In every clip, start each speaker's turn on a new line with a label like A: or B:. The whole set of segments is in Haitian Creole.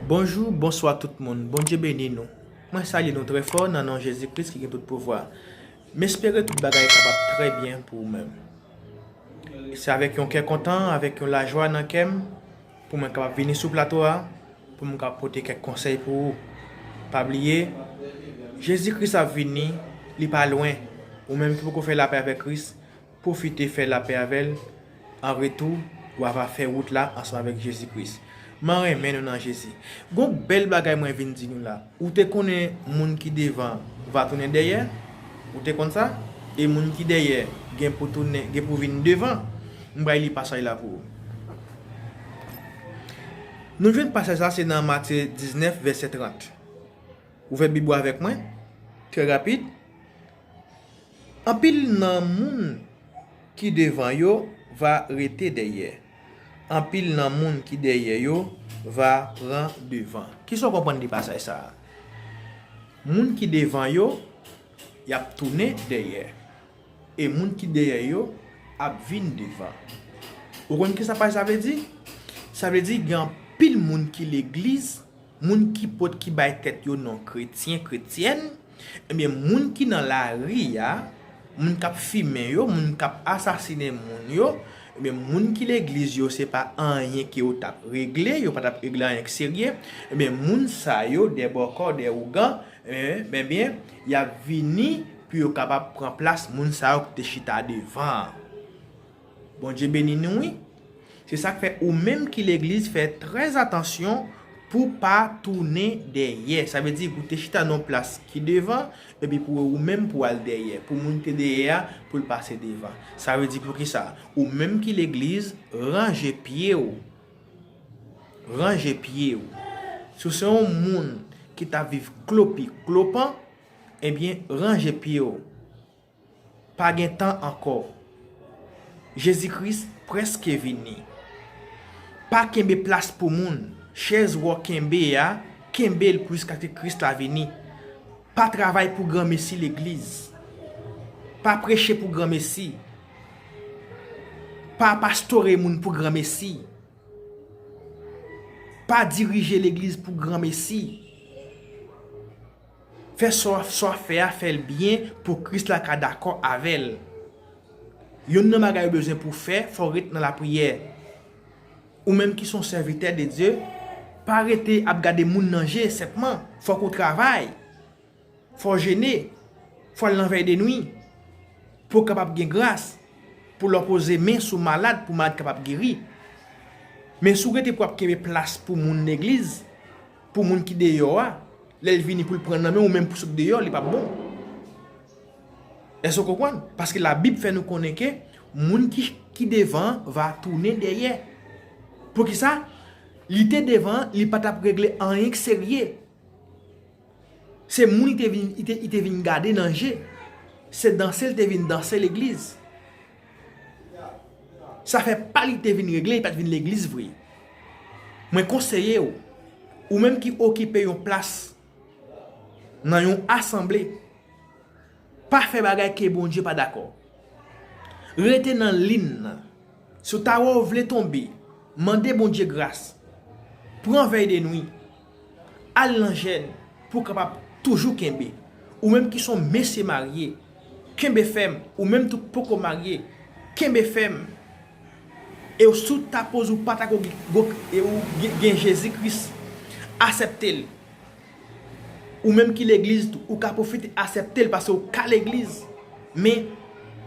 A: Bonjou, bonswa tout moun. Bondye beni nou. Mwen salye nou trè fò nan non Jezi Kris ki gen tout pouvwa. M espere tout bagay kap ap trè byen pou ou menm. Se avèk yon kè kontan, avèk yon lajwa nan kè m pou mwen kapab vini sou plato a pou m kapab pote kèk konsèy pou ou. Pa bliye, Jezi Kris ap vini, li pa lwen. Ou menm ki poko fè lapè avèk Kris, Pwofite fè lapè avè l. An retou, w ava fè wout la ansanm avèk Jezi Kris. M an renmen nou nan Jezi. Gon bèl bagay mwen vin di nou la. Ou te konnen moun ki devan va tounen dèyè? Ou te konn sa? E moun ki dèyè gen pou tounen, gen pou vin devan? M pral li pasaj la pou ou. Nou jwenn pasaj sa se nan Matye 19 vèsè 30. Ouvè bib ou avèk mwen, trè rapid. Anpil nan moun ki devan yo va rete dèyè, anpil nan moun ki dèyè yo va pran devan. Ki sa w konprann de pasaj sa a? Moun ki devan yo, y ap tounen dèyè. E moun ki dèyè yo ap vin devan. Ou konn ki sa paj sa vle di? Sa vle di gen anpil moun ki legliz Moun ki pot ki bay tèt yo non kretyen, kretyèn, ebyen moun ki nan lari a, moun kap fimen yo, moun kap asasine moun yo, ebyen moun ki legliz yo se pa anyen ke yo tap regle, yo pa tap regle anyen k serye, ebyen moun sa yo dè bòkò, dè ougan, ebyen ebyen yap vini pou yo kapab pran plas moun sa yo ki te chita devan an. Bondye beni nou wi. Se sak fè ou menm ki legliz fè trè atansyon pou pa tounen dèyè. Sa vle di pou te chita nan yon plas ki devan epi pou ou menm pou al dèyè. Pou moun ki te dèyè a pou l pase devan. Sa vle di poukisa? Ou menm ki legliz ranje pye ou. Ranje pye ou. Si w se yon moun ki ta viv klopi klopan, ebyen ranje pye ou. Pa gen tan ankò. Jezi Kris prèske vini. Pa kenbe plas pou moun. Chèz wou kenbe a, kenbe l pou jiskaske Kris la vini. Pa travay pou granmesi legliz. Pa preche pou granmesi. Pa pastore moun pou granmesi. Pa dirije legliz pou granmesi. Fè sa w ap fè a, fè l byen pou Kris la ka dakò avè l. Youn nan bagay ou bezwen pou w fè, fò w ret nan lapriyè. Ou menm ki se yon sèvitè de Dye, pa rete ap gade moun nan je senpman. Fòk ou travay. Fò w jene. Fò w al nan vèydenwi. Pou w kapab gen gras. Pou lè w poze men sou malad, pou malad kapab geri. Men si w rete pou ap kenbe plas pou moun legliz. Pou moun ki deyò a, lè l vini pou l pran nan men ou menm pou sot deyò, li p ap bon. Èske w konprann? Paske Labib fè nou konnen ke moun ki devan an va tounen dèyè. Poukisa? Li te devan an, li pa t ap regle anyen ki serye. Se moun li te vin gade nan je. Se danse l te vin danse legliz. Sa fè pa li te vin regle li pat vin legliz vre. Mwen konseye ou, ou menm ki okipe yon plas nan yon asanble, pa fè bagay ke Bondye pa dakò. Rete nan lin nan. Si w ta wè ou vle tonbe, mande Bondye gras. Pran vèy denwi. Al nan jèn pou w kapab toujou kenbe. Ou menm ki son mesye marye, kenbe fèm, ou menm tou k poko marye, kenbe fèm e w si w ta poze w pata ko e w gen Jezi Kris asèpte l. Ou menm ki legliz tou ou ka pwofite asèpte l pase w ka legliz men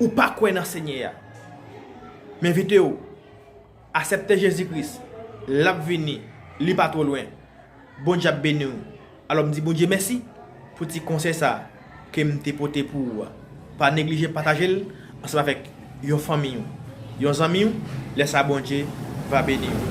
A: ou pa kwè nan Senyè a. M envite w Asèpte Jezi Kris, lap vini, li pa two lwen. Bondye ap beniw. Alò m di Bondye mèsi pou ti konsèy sa kem te pote pou ou a. Pa neglije patajel ansanm avèk yon fanmiy ou, yon zanmiy ou, lè sa Bondye va beniw.